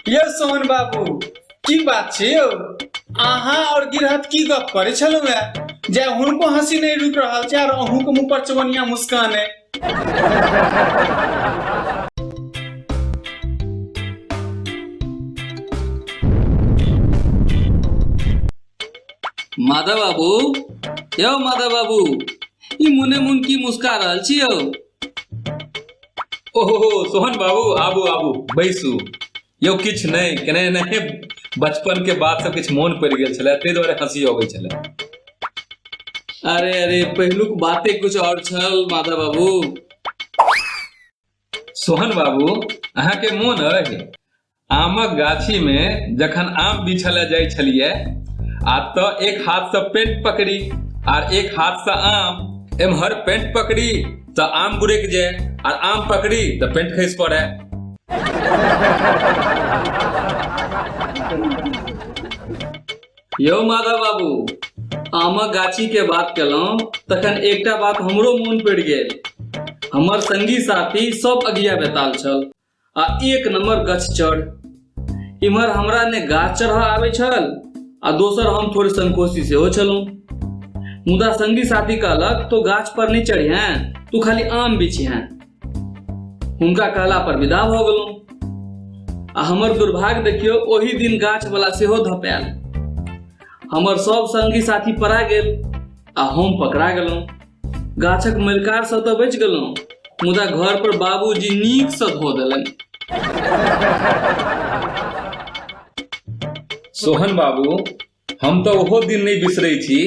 यौ सोहन बाबू की बात छै यौ अहाँ और गिरहत की गप करे छलौ है जे हुनको हंसी नहीं रुक रहल छै और अहूँ के मुंह पर चवनिया मुस्कान है माधव बाबू यौ माधव बाबू ई मुने मुन की मुस्का रहल छी यौ ओहो सोहन बाबू आबू आबू बैसू यौ किछु नहि केने नहि बचपन के बात सब किछु मोन पड़ि गेल छलै ताहि दुआरे हंसी अबै छलै अरे अरे पहिलुक बाते कुछ और छल माता बाबू सोहन बाबू अहाँके मोन अछि आमक गाछी मे जखन आम बिछले जाइ छलियै आ त एक हाथ से पेट पकड़ी आर एक हाथ से आम एम्हर पेट पकड़ी त आम गुड़क जाय आर आम पकड़ी त पेट खसि पड़े यौ माधव बाबू आमक गाछी के बात केलहुँ तखन एकटा बात हमरो मोन पड़ि गेल हमर संगी साथी सब अगिया बेताल छल आ एक नंबर गछ चढ़ इम्हर हमरा ने गाछ चढ़ आवे छल आ दोसर हम थोड़े संकोची से हो छलू मुदा संगी साथी कहलक तो गाछ पर नहीं चढ़ी हैं तू खाली आम बिछी हैं उनका कहला पर विदा भ गेलू आ हमर दुर्भाग्य देखियो ओही दिन गाछ वाला सेहो धपैल हमर सब संगी साथी परा गेल आ हम पकड़ा गेलू गाछक मलिकारसँ तऽ बचि गेलहुँ मुदा घर पर बाबूजी नीकसँ धो देलनि सोहन बाबू हम तऽ ओहो दिन नहि बिसरै छी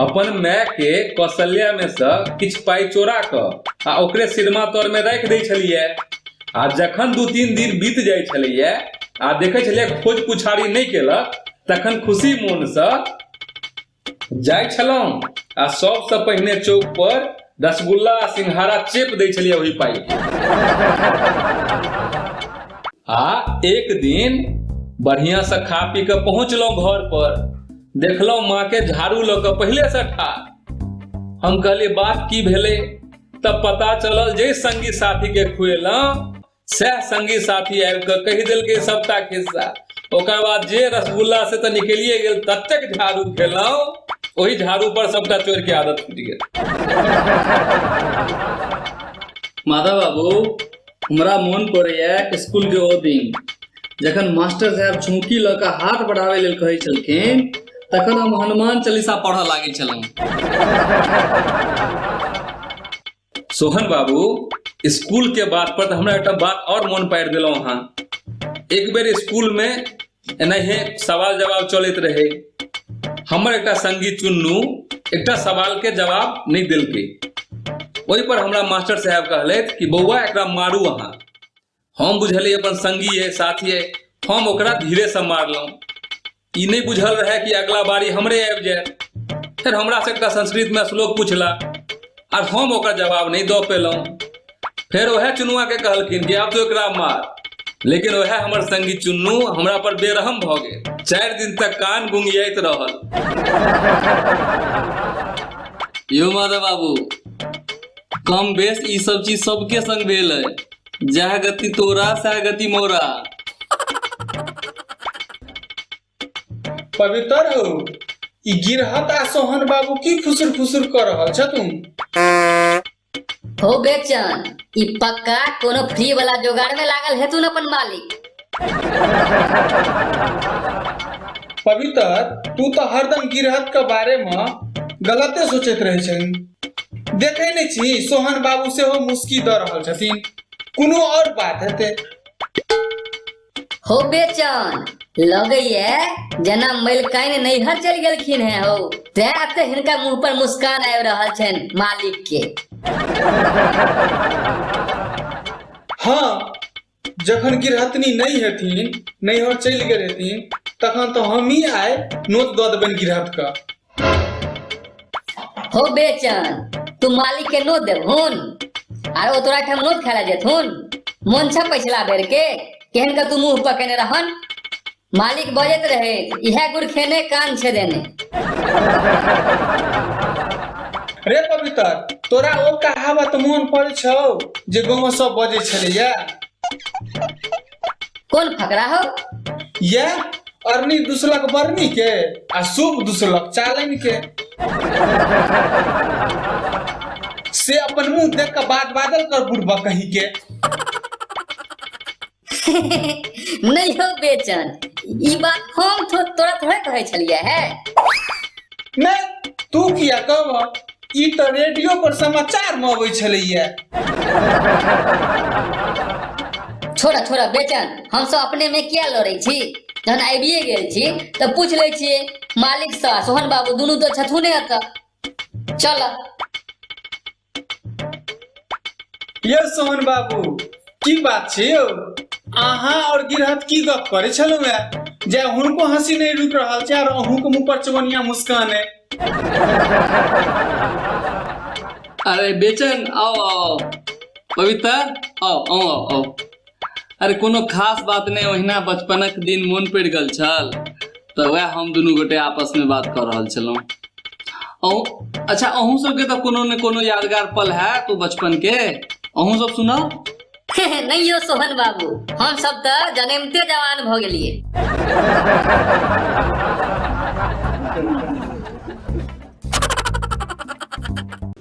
अपन माय के कौशल्या में से किछु पाई चोरा क आ ओकरे सिरमा तर में राखि दै छलियै आ जखन दू तीन दिन बीत जाइ छलैया आ देखै छलियै खोज पुछारी नहि केलक तखन खुशी मोन से जाइत छलहुँ आ सभसँ पहिने चौक पर रसगुल्ला आ सिंघारा चेप दै छलियै ओहि पाइ के आ एक दिन बढ़िया से खा पी के पहुंचलहुं घर पर देखलहुं माँ के झाड़ू लऽ के पहले से ठार हम कहलिए बात की भेले तब पता चलल जे संगी साथी के खुएलहुं सएह संगी साथी आबि कऽ कहि देलकै सभटा खिस्सा ओकर बाद जे रसगुल्ला से तऽ निकलिए गेल ततेक झाड़ू खेलहुँ ओहि झाड़ू पर सभटा चोर के आदत फूटि गेल माधव बाबू हमरा मोन पड़ैया स्कूल के ओ दिन जखन मास्टर साहब झुमकी लऽ कऽ हाथ बढ़ाबै लेल कहै छलखिन तखन हम हनुमान चालीसा पढ़ऽ लागै छलहुँ सोहन बाबू स्कूल के बात पर तो हमरा एकटा बात और मन पार दिल अहाँ एक बेर स्कूल में एनाहे सवाल जवाब चलत रहे हमर एक संगी चुन्नू एक सवाल के जवाब नहीं दिल वही पर हमरा मास्टर साहब कहल कि बौआ एक मारू अहाँ हम बुझलियै अपन संगी अइ साथी अइ हम ओकरा धीरेसँ मारलहुँ ई नहि बुझल रहए कि अगला बारी हमरे आबि जाय फेर हमरा एकटा संस्कृतमे श्लोक पुछला आर हम ओकर जवाब नहि दऽ पेलहुँ फेर ओएह चुनुआके कहलखिन कि आब तो एकरा मार लेकिन ओएह हमर संगी चुन्नू हमरा पर बेरहम भऽ गेल चारि दिन तक कान गुंगियाइत रहल यो माधव बाबू कम बेस ई सब चीज सबके संग भेल है जह गति तोरा सह गति मोरा पवित्र हो ई गिरहत आ सोहन बाबू की फुसुर फुसुर कर रहल छ तुम हो बेचन ई पक्का कोनो फ्री वाला जोगाड़ में लागल है तू अपन मालिक पवित्र तू तो हरदम गिरहत के बारे में गलते सोचत रहे छन देखै नहि छी सोहन बाबू सेहो मुस्की दऽ रहल छथिन कोनो आओर बात हेतै हो बेचन लगैए जेना मलिकाइन नैहर चलि गेलखिन हैं हो तैं एते हिनका मुंह पर मुस्कान आबि रहल छनि मालिक के हँ जखन गिरहतनी नहि हेथिन नैहर चलि गेल हेथिन तखन तऽ हमही आइ नोत दऽ देबनि गिरहतके हो बेचन तू मालिक के नोत देबहुन आर ओ तोरा ठाम नोत खेला जेथुन मोन छ पछिला बेर के केहन का तू मुंह पकेने रहन मालिक बजैत रहै इहे गुड़ खेने कान छै देने रे पवित्र तोरा ओ कहावत मोन पड़ छौ जे गाँव सब बजे छलैया कोन फकरा हो ये अरनी दुसलक बरनी के आ शुभ दुसलक चालन के से अपन मुंह देख के बात बादल कर बुढ़बा कहीं के नहि हो बेचन ई बात हम तो तोरा थोड़े कहै छलियै है नहि तू किया कहब ई तऽ रेडियो पर समाचार में अबै छलैया छोड़ा छोड़ा बेचन हम सब अपने में किया लड़ै छी जहन आबिए गेल छी तऽ पूछ लै छियै मालिक सँ सोहन बाबू दुनू तऽ छथुने एतऽ चल यौ सोहन बाबू की बात छै यौ अहाँ और गिरहत की गप करे छलौ है जे हुनको हंसी नहीं रुक रहल छै और अहूँ के मुंह पर चवनिया मुस्कान है अरे बेचन आओ आओ पवित्र आओ आओ आओ अरे कोनो खास बात नहि ओहिना बचपनक दिन मोन पड़ि गेल छल तऽ वएह हम दुनू गोटे आपसमे बात कऽ रहल छलहुँ अहूँ अच्छा अहूँ सबके तऽ कोनो ने कोनो यादगार पल हैत ओ बचपन के अहूँ सब सुनाउ नहि यौ सोहन बाबू हम सब तऽ जन्मते जवान भऽ गेलियै